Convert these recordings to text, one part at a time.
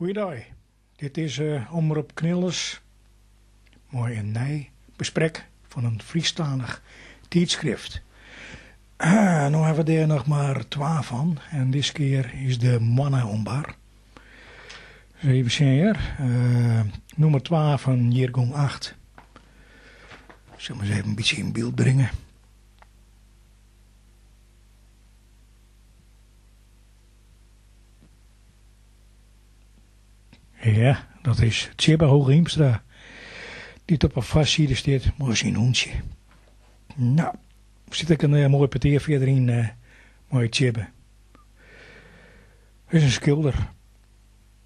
Goeidei, dit is Omrop Knilles mei in nij besprek fan in Frysktalich tydskrift. No hawwe we dêr noch mar twa fan en diskear is de moanne oan bar. Ris even sjen hjir, nûmer twa fan jiergong acht. Sil him ris even in bytsje yn byld bringe. Ja, dat is Tsjibbe Hooghiemstra, dy't op 'e foarside stiet mei syn hûntsje. No, sit ek in eh, moai petear fierder yn eh, mei Tsjibbe. Hy is in skilder.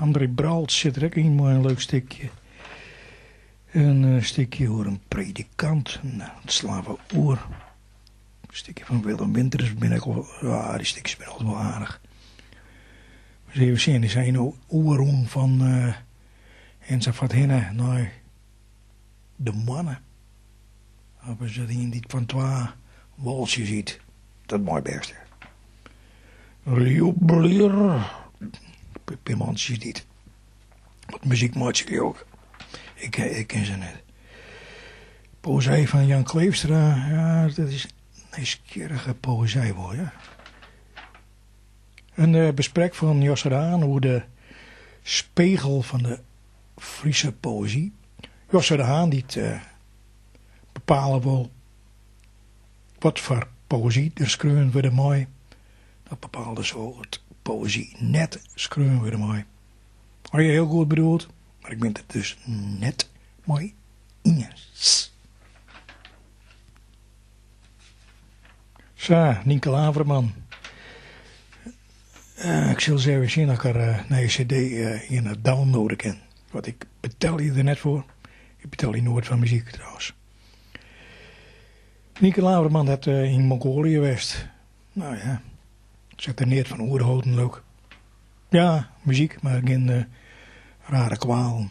André Bralts sit der ek yn mei in leuk stikje. In stikje oer in predikant. No, dat slaan we oer. In stikje fan Willem Winters bin ik al, ja, dy stikjes binne altyd wol aardich. Ris even sjen, is hy no oerrûn fan ensafh hinne nei De moanne hawwe se der ien dy't fan twa wâltsjes yt, dat mei bêst. Rjoeblear, pear mantsjes dy't wat muzyk meitsje leau 'k. Ik ken se net. Poëzij fan Jan Kleefstra, ja, dat is nijsgjirrige poëzij wol, ja. In besprek fan Josse de Haan oer de spegel fan de Friese poëzy. Josse de Haan dy't bepale wol wat foar poëzy der skreaun wurde mei. Dat bepaalt dus al dat poëzy net skreaun wurde mei. Ha je hiel goed bedoeld, mar ik bin it der dus net mei iens. Sa, Nynke Laverman. Ik sil ris even sjen at ik har nije CD earne downloade kin, want ik betelje der net foar. Ik betelje noait foar muzyk trouwens. Nynke Laverman hat yn Mongolië west. No ja, se hat der neat fan oerholden, leau 'k. Ja, muzyk, mar gjin rare kwalen.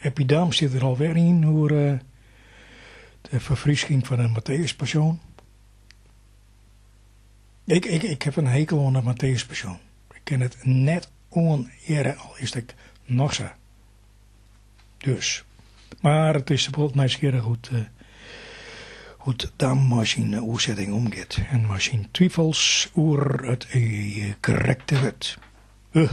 Eppie Dam sit der alwer yn oer de ferfrysking fan 'e Matteüspassion. Ik, ik, ik heb in hekel oan de Matteüspassion. Ik kin it net oanhearre, al is it noch sa. Dus. Mar it is wol nijsgjirrich hoe't, hoe't Dam mei syn oersetting omgiet en mei syn twifels oer it krekte wurd. Huh,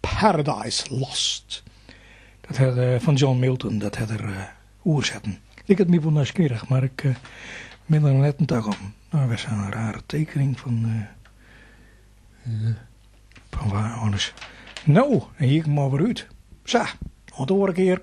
Paradise Lost. Dat hat er fan John Milton, dat hat er oersetten. Liket my wol nijsgjirrich, mar ik bin der net in tak oan. No wer sa'n rare tekening fan fan wa oars. No, dan hie ik him alwer út. Sa, oant de oare kear.